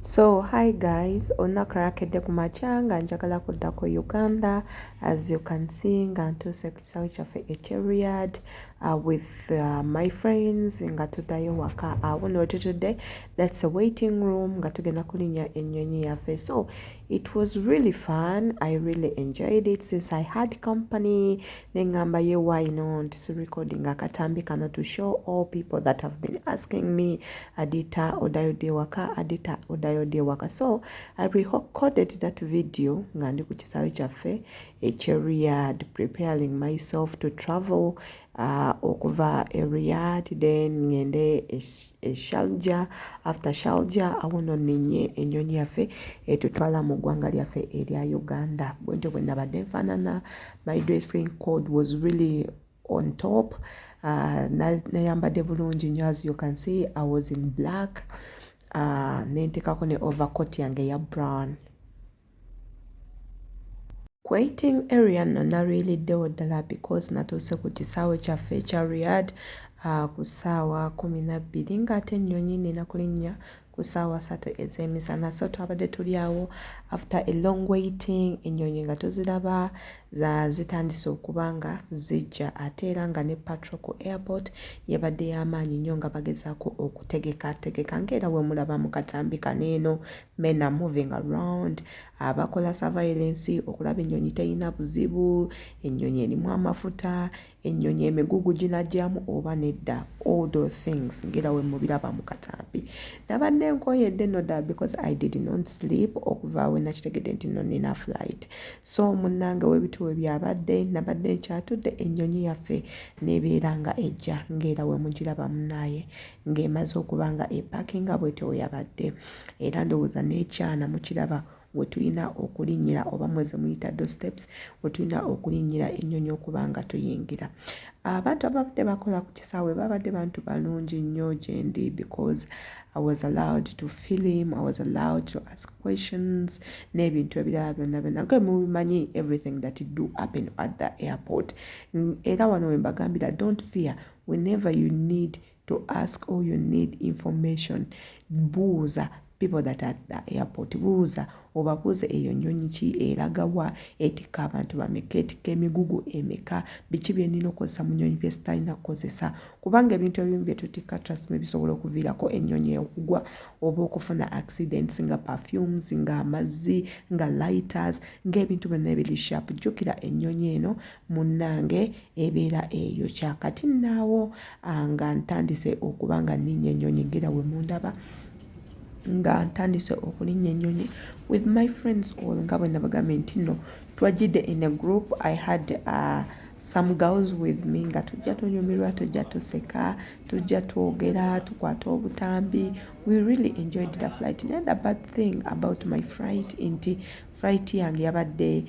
So hi guys, olunaku lwakedde ku makya nga njagala kudda ku Uganda as you can see nga ntuuse ku kisawe kyaffe ekye Riyadh uh, with uh, my friends nga tuddayo waka awo uh, notutudde that's a waiting room nga tugenda kulinya ennyonyi yaffe so it was really fun i really enjoyed it since i had company nengamba ye why not si recording akatambi kano to show all people that have been asking me adita odayodde ewaka adita odayodde ewaka so i recorded that video nga ndi ku kisaawe kyaffe ekyeriyad preparing myself to travel uh, okuva eriyad then ngende eshalja after shalja awono ninye enyonyi yaffe etutwala mu ggwanga lyaffe erya uganda bwentyo bwenabadde nfaanana uh, my dressing code was really on top uh, nayambadde bulungi nyo as you can see i was in black uh, nentekako ne overcoat yange eya brown Waiting area nno nalwiliddewo ddala because natuuse ku kisaawe kyaffe ekya Riyadh uh, ku ssaawa kumi na bbiri ng'ate ennyonyi nina kulinnya ku ssaawa satu ez'emisana so twabadde tuli awo after a long waiting ennyonyi nga tuziraba za zitandise okuba nga zijja ate era nga ne patro ku airport yabadde y'amaanyi nnyo nga bagezaako okutegeka tegeka ngaera we mulaba mu katambi kaneeno men are moving around abakola surveillance okulaba ennyonyi terina buzibu ennyonyi erimu amafuta Ennyonyi emigugu ginagyamu oba nedda all those things ngera we mubiraba mu katambi nabadde nkoyedde no da because i did not sleep okuva we nakitegedde nti no nina flight so munnange webituwe byabadde nabadde nkyatudde ennyonyi yaffe nebeera nga ejja ngera we mugiraba munaaye ng'emaze okuba nga epakinga bwetyo weyabadde era ndowooza n'ekyana mukiraba wetulina okulinnyira oba mweze muyita do steps wetulina okulinnyira ennyonyi okuba nga tuyingira abantu ababadde bakola ku kisaawe babadde bantu balungi nnyo gyendi because i was allowed to film i was allowed to ask questions n'ebintu ebirala byonna byonna ge mubimanyi everything that do happen at the airport era wano wembagambira don't fear whenever you need to ask all you need information buuza people that are the airport buuza obabuuze eyo nyonyi ki eragawa etikka abantu bameka etikka emigugu emeka biki byenina okozesa mu nyonyi byesitalina kukozesa kubanga ebintu ebimu byetutikka trust me bisobola okuviirako enyonyi okugwa oba okufuna accidents nga perfumes nga amazzi nga lighters ngaebintu byonna ebiri sharp jjukira enyonyi eno munnange ebeera eyo kyakati naawo nga ntandise okuba nga nninnya ennyonyi ngera we mundaba nga ntandise okulinnya ennyonyi with my friends all nga bwe nabagambye nti nno twajjidde in a group i had uh, some girls with me nga tujja tunyumirwa tujja tuseka tujja twogera tukwata obutambi we really enjoyed the flight naye the bad thing about my flight nti flight yange yabadde uh,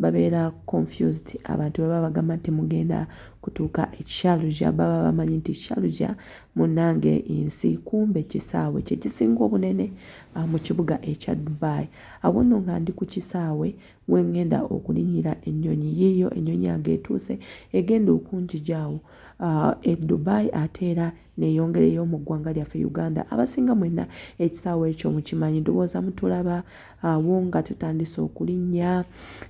babeera confused abantu bwe baba bagamba nti mugenda kutuuka e Sharjah baba bamanyi nti Sharjah munnange ensi kumbe kisaawe kye kisinga obunene ah, mu kibuga ekya Dubai awo nno nga ndi ku kisaawe we ŋŋenda okulinnyira ennyonyi yiiyo ennyonyi yange etuuse egenda okunjija awo ah, e Dubai ate era neyongereyo mu ggwanga lyaffe uganda abasinga mwenna ekisaawa ekyo mukimanyi ndowooza mutulaba awo nga tutandise okulinnya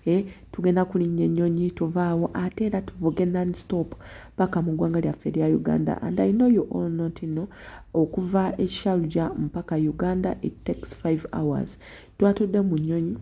e tugenda kulinnya ennyonyi tuva awo ate era tuvuge non stop paka mu ggwanga lyaffe erya uganda and i know you all not no okuva ekishaluja mpaka uganda it takes five hours twatudde mu nnyonyi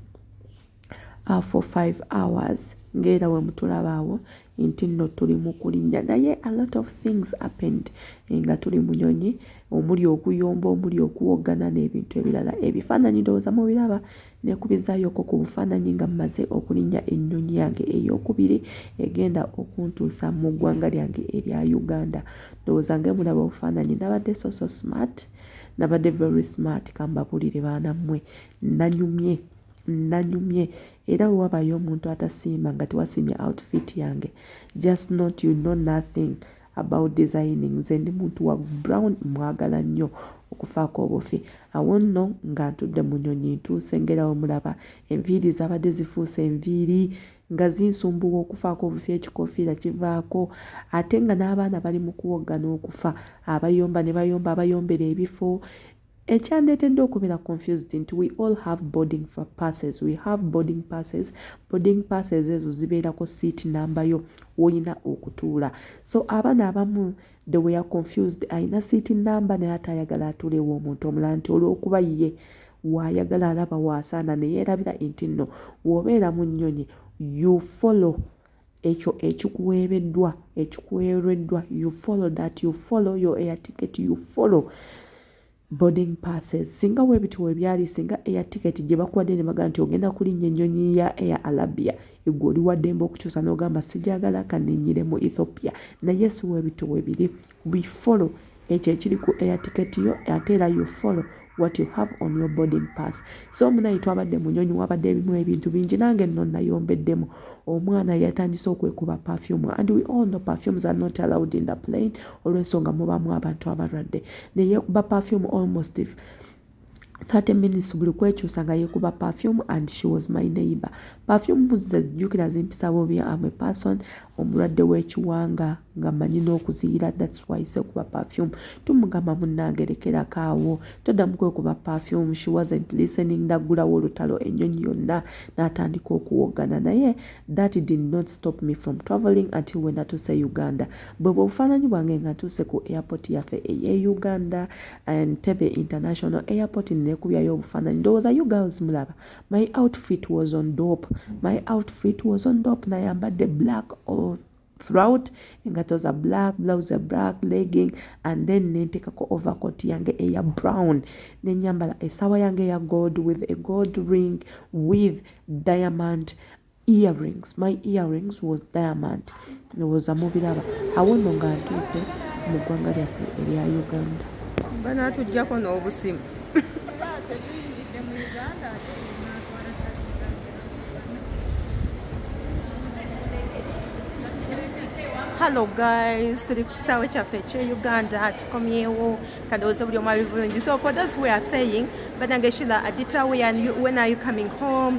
uh, for five hours ngaera wemutulaba awo nti nno tuli mu kulinnya naye a lot of things happened eh, nga tuli mu nyonyi omuli okuyomba omuli okuwoggana n'ebintu ebirala ebifaananyi ndowooza mubiraba nekubizaayooko ku bufaananyi nga mumaze okulinnya ennyonyi yange eyokubiri egenda okuntuusa mu ggwanga lyange erya uganda ndowooza nga emulaba obufaananyi nabadde soso smart nabadde very smart kambabulire baana mmwe nanyumye nanyumye era wewabayo omuntu atasiima nga tewasiimye outfit yange just not you know nothing about designing nze ndi muntu wa brown mwagala nnyo okufaako obufi awo nno nga ntudde mu nyonyi ntuuse ngera we mulaba enviiri zabadde zifuuse enviiri nga zinsumbuwa okufaako obufi ekikofiira kivaako ate nga n'abaana bali mu kuwoggana okufa abayomba ne bayomba abayombera ebifo Ekyandeetedde okubeera confused nti we all have boarding for passes, we have boarding passes, boarding passes ezo zibeerako seat number yo woyina okutuula. So abaana abamu they were confused ayina seat number naye ate ayagala atuulewo omuntu omulala nti olw'okuba ye waayagala alaba waasaana ne yeerabira nti nno w'obeera mu nnyonyi you follow ekyo ekikuweereddwa ekikuweereddwa you follow that you follow your air ticket you follow boarding passes singa webiti webyali singa air ticket gye bakuwadde ne baga nti ogenda kulinnya ennyonyi ya air alabia egwe oli waddembe okukyusa n'ogamba sigyagala kanenyire mu ethiopia naye si webiti webiri we follow ekyo ekiri ku air ticket yo ate era you follow what you have on your boarding pass so munaye twabadde munyonyi wabadde ebimu ebintu bingi nange nno nayombeddemu omwana yatandise okwekuba perfume and we all know perfumes are not allowed in the plane olwensonga mubamu abantu abalwadde neyekuba perfume almost if 30 minutes buli kwekyusa nga yekuba perfume and she was my neighbor perfume mbuzi zezijjukira zimpisa bobi am a person omulwadde w'ekiwanga nga manyi n'okuziyira thats why sekuba perfume tumugamba munnange lekerako awo toddamu kwekuba perfume she wasn't listening naggulawo olutalo ennyonyi yonna n'atandika okuwoggana naye that did not stop me from traveling until we natuuse uganda bwe bwe bufaananyi bwange nga ntuuse ku airport yaffe eye uganda Entebbe International Airport nekubyayo obufaananyi ndowooza you girls mulaba my outfit was on dop my outfit was on dop nayambadde black or throughout engato za black blouse ya black legging and then nentekako overcoat yange eya brown nenyambala esawa yange ya gold with a gold ring with diamond earrings my earrings was diamond ndowooza mubiraba awono nga ntuuse mu ggwanga lyaffe erya uganda banatujjako n'obusimu hallo guys tuli ku kisaawe kyaffe ekye uganda tukomyewo kadowooza buli omwabivungi so for those we are saying banange shila adita when are you coming home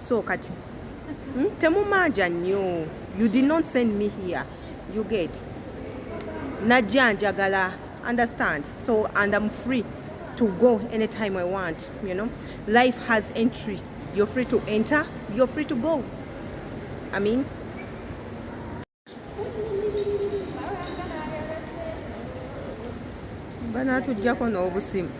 so kati hmm? temumanja nnyo you did not send me here you get najja njagala understand so and i'm free to go anytime i want you know life has entry you're free to enter you're free to go i mean banaatujjako n'obusimu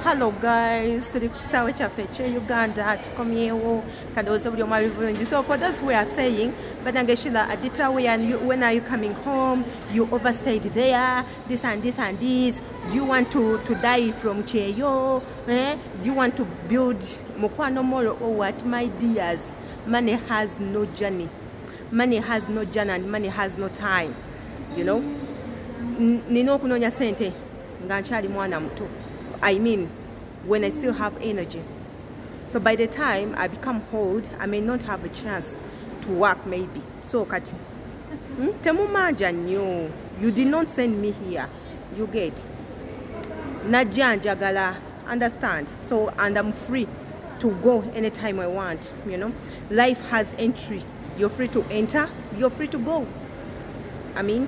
hello guys tuli ku kisaawe kyaffe ekye uganda tukomyewo kadowooza buli omu abivungi so for those who are saying banange shila adita when are you coming home you overstayed there this and this and this do you want to, to die from cheyo eh? do you want to build mukwano molo or oh, what my dears money has no journey money has no journey and money has no time you know nina okunoonya sente nga nkyali mwana muto i mean when i still have energy so by the time i become old i may not have a chance to work maybe so kati hmm? temumanja nnyo you did not send me here you get najja njagala understand so and i'm free to go anytime i want you know life has entry you're free to enter you're free to go i mean